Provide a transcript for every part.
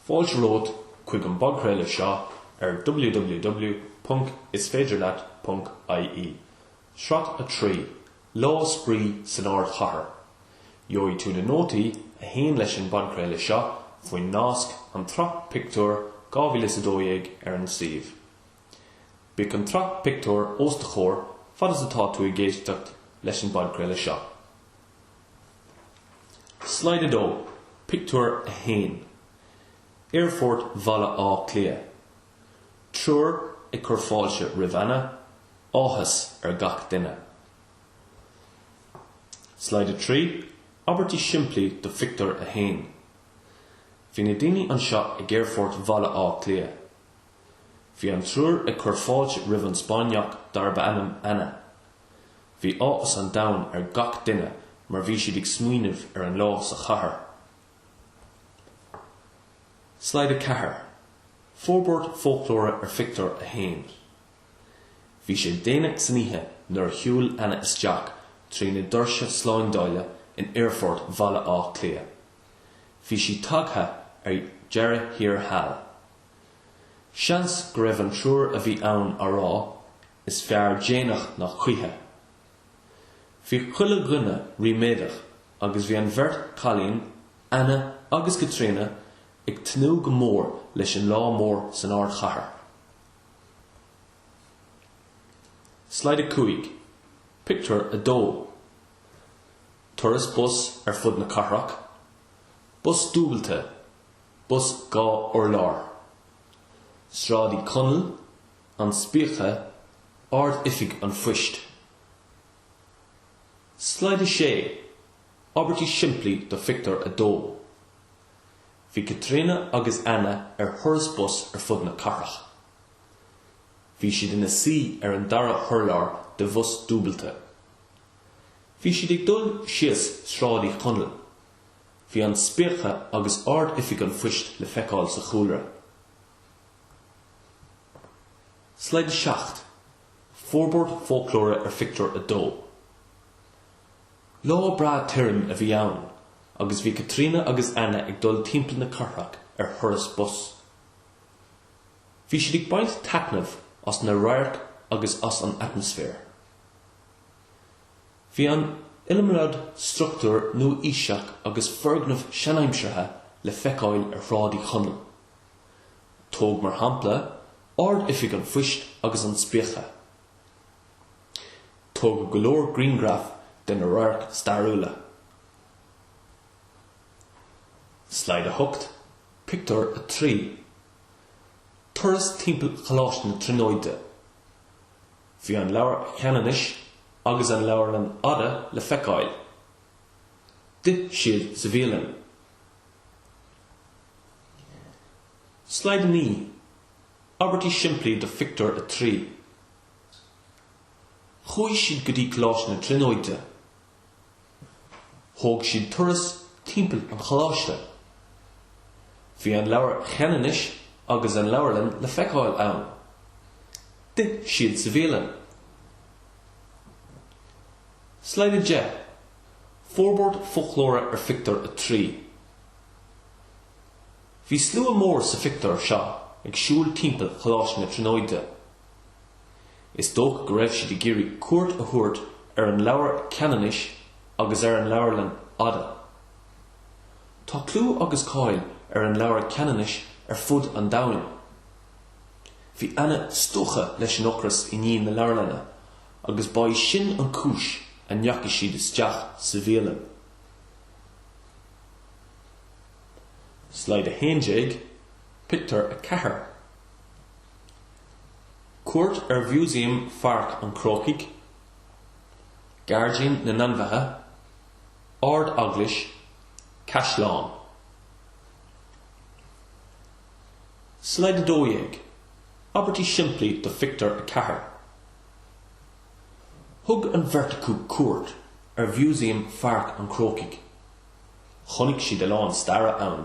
Fáilte romhat chuig an bpodchraoladh seo ar www.isféidirleat.ie, sraith 3, Lá Spraoi san Ardchathair. Gheobhaidh tú na nótaí a théann leis an bpodchraoladh seo faoin nasc An tSraith Pictiúr 2012 ar an suíomh. Bíodh an tsraith pictiúr os do chomhair fad is atá tú ag éisteacht leis an bpodchraoladh seo. Slide 2, Pictiúr 1, Aerfort Bhaile Átha Cliath. Triúr ag cur fáilte roimh Anna, áthas ar gach duine. Slide 3, Abairtí simplí do Phictiúr 1 Bhí na daoine anseo ag Aerfort Bhaile Átha Cliath. Bhí an triúr ag cur fáilte roimh an Spáinneach darb ainm Anna. Bhí áthas an domhain ar gach duine mar bhí siad ag smaoineamh ar an lá sa chathair. Slide 4, Forbairt foclóra ar Phictiúr 1 Bhí sé déanach san oíche nuair a shiúil Anna isteach trí na doirse slándála in Aerfort Bhaile Átha Cliath. Bhí sí tagtha ar deireadh thiar thall. Seans go raibh an triúr a bhí ann á rá, Is fearr déanach ná choíche. Bhí chuile dhuine ríméadach agus bhí an bheirt chailín, Anna agus Caitríona, ag tnúth go mór leis an lá mór san ardchathair. Slide 5, Pictiúr 2 Turas bus ar fud na cathrach, bus dúbailte, bus dhá urlár. Sráid Uí Chonaill, An Spíce, Ard-Oifig an Phoist. Slide 6, Abairtí simplí do Phictiúr 2 Bhí Caitríona agus Anna ar thuras bus ar fud na cathrach. Bhí siad ina suí ar an dara hurlár de bhus dúbailte. Bhí siad ag dul síos Sráid Uí Chonaill. Bhí an Spíce agus Ard-Oifig an Phoist le feiceáil sa chúlra. Slide 7, Forbairt foclóra ar Phictiúr 2 Lá breá tirim a bhí ann agus bhí Caitríona agus Anna ag dul timpeall na cathrach ar thuras bus. Bhí siad ag baint taitneamh as na radhairc agus as an atmaisféar. Bhí an iliomad struchtúr nua-aoiseach agus foirgneamh seanaimseartha le feiceáil ar Shráid Uí Chonaill. Tóg mar shampla Ard-Oifig an Phoist agus an Spíce. Tógadh go leor griangraf de na radhairc stairiúla. Slide 8, Pictiúr 3 Turas timpeall Choláiste na Tríonóide. Bhí an Leabhar Cheanannais agus an Leabharlann Fhada le feiceáil. D'ith siad sa bhialann. Slide 9, Abairtí simplí do Phictiúr 3 Chuaigh siad go dtí Coláiste na Tríonóide. Thóg siad turas timpeall an choláiste. Bhí an Leabhar Cheanannais agus an leabharlann le feiceáil ann. D'ith siad sa bhialann. Slide 10, Forbairt foclóra ar phictiúr a trí. Bhí slua mór sa phictiúr seo ag siúl timpeall Choláiste na Tríonóide. Is dócha go raibh siad ag iarraidh cuairt a thabhairt ar an Leabhar Ceanannais agus ar an Leabharlann Fhada. Tá clú agus cáil ar an Leabhar Ceanannais ar fud an domhain. Bhí Anna stiúgtha leis an ocras i ndiaidh na leabharlainne Agus ba í sin an cúis a ndeachaidh siad isteach sa bhialann. Slide 11, Pictiúr 4. Cuairt ar Mhúsaem Pháirc an Chrócaigh, Gairdín na nAinmhithe, Ard-Eaglais, Caisleán. Slide 12, Abairtí simplí do Phictiúr 4. Thug an bheirt acu cuairt ar Mhúsaem Pháirc an Chrócaigh. Chonaic siad a lán staire ann.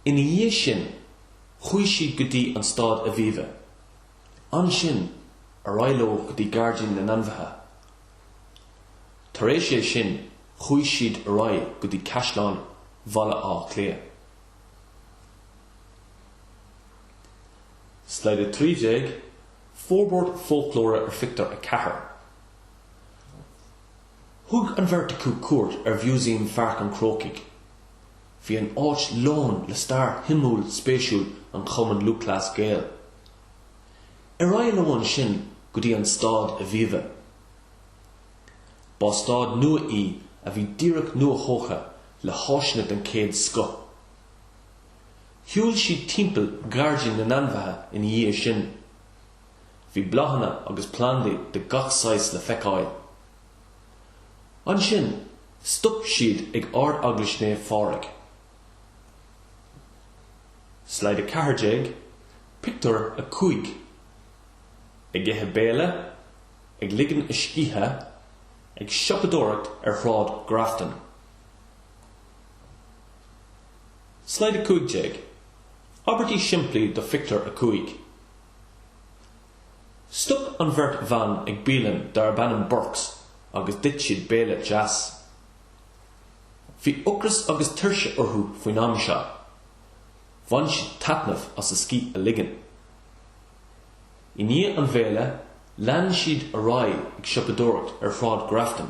Ina dhiaidh sin, chuaigh siad go dtí an Staid Aviva. Ansin, ar aghaidh leo go dtí Gairdín na nAinmhithe. Tar éis é sin, chuaigh siad ar aghaidh go dtí Caisleán Bhaile Átha Cliath. Slide 13, Forbairt foclóra ar Phictiúr 4 Thug an bheirt acu cuairt ar Mhúsaem Pháirc an Chrócaigh. Bhí an áit lán le stair shuimiúil spéisiúil an Chumainn Lúthchleas Gael. Ar aghaidh leo ansin go dtí an Staid Aviva. Ba staid nua í a bhí díreach nua-thógtha le háiseanna den chéad scoth. Shiúil siad timpeall gairdín na n-ainmhithe ina dhiaidh sin. Bhí bláthanna agus plandaí de gach saghas le feiceáil. Ansin, stop siad ag Ard-Eaglais Naomh Phádraig. Slide 14, Pictiúr 5 Ag ithe béile, ag ligean a scíthe, ag siopadóireacht ar Shráid Ghrafton. Slide 15, Abairtí simplí do Phictiúr 5 Stop an bheirt bhan ag bialann darb ainm Burke's agus d'ith siad béile deas. Bhí ocras agus tuirse orthu faoin am seo. Bhain siad taitneamh as a scíth a ligean. I ndiaidh an bhéile, lean siad ar aghaidh ag siopadóireacht ar Shráid Grafton.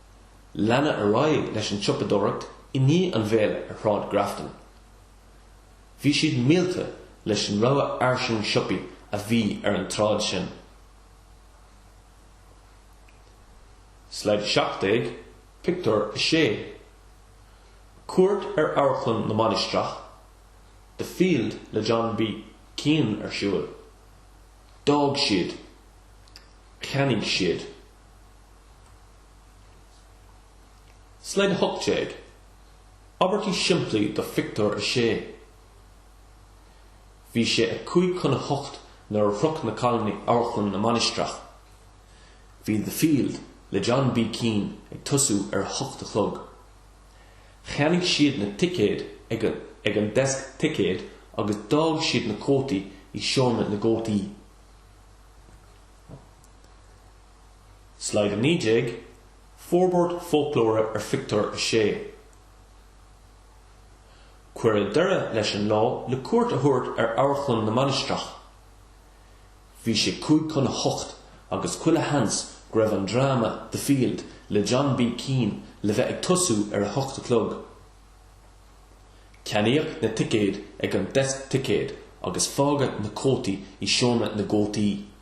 Leanadh ar aghaidh leis an tsiopadóireacht i ndiaidh an bhéile ar Shráid Grafton. Bhí siad millte leis an rogha fhairsing siopaí a bhí ar an tsráid sin. Slide 17, Pictiúr 6 Cuairt ar Amharclann na Mainistreach, The Field le John B Keane ar siúl. D'fhág siad. Cheannaigh siad. Slide 18, Abairtí simplí do Phictiúr a Sé Bhí sé a cúig chun a hocht nuair a shroich na cailíní Amharclann na Mainistreach. Bhí The Field le John B Keane ag tosú ar a hocht a chlog. Cheannaigh siad na ticéid ag an deasc ticéad agus d'fhág siad na cótaí i seomra na gcótaí. Slide 19, Forbairt foclóra ar phictiúr a sé. Cuireadh deireadh leis an lá le cuairt a thabhairt ar Amharclann na Mainistreach. Bhí sé cúig chun a hocht agus chuile sheans go raibh an dráma The Field le John B. Keane le bheith ag tosú ar a hocht a chlog. Ceannaíodh na ticéid ag an deasc ticéad agus fágadh na cótaí i seomra na gcótaí.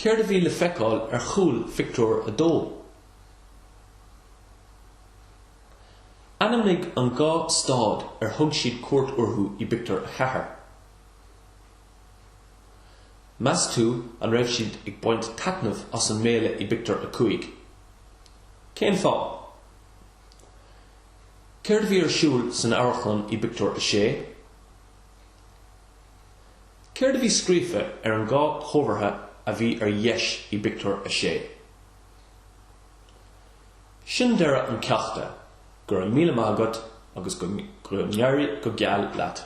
Céard a bhí le feiceáil ar chúl phictiúr a dó? Ainmnigh an dá stad ar thug siad cuairt orthu i bpictiúr a ceathair. Meas tú an raibh siad ag baint taitnimh as an mbéile i bpictiúr a cúig? Cén fáth? Céard a bhí ar siúl san amharclann i bpictiúr a sé? Céard a bhí scríofa ar an dá chomhartha a bhí ar dheis i bpictiúr a sé? Sin deireadh an cheachta, go raibh míle maith agat agus go n-éirí go geal leat.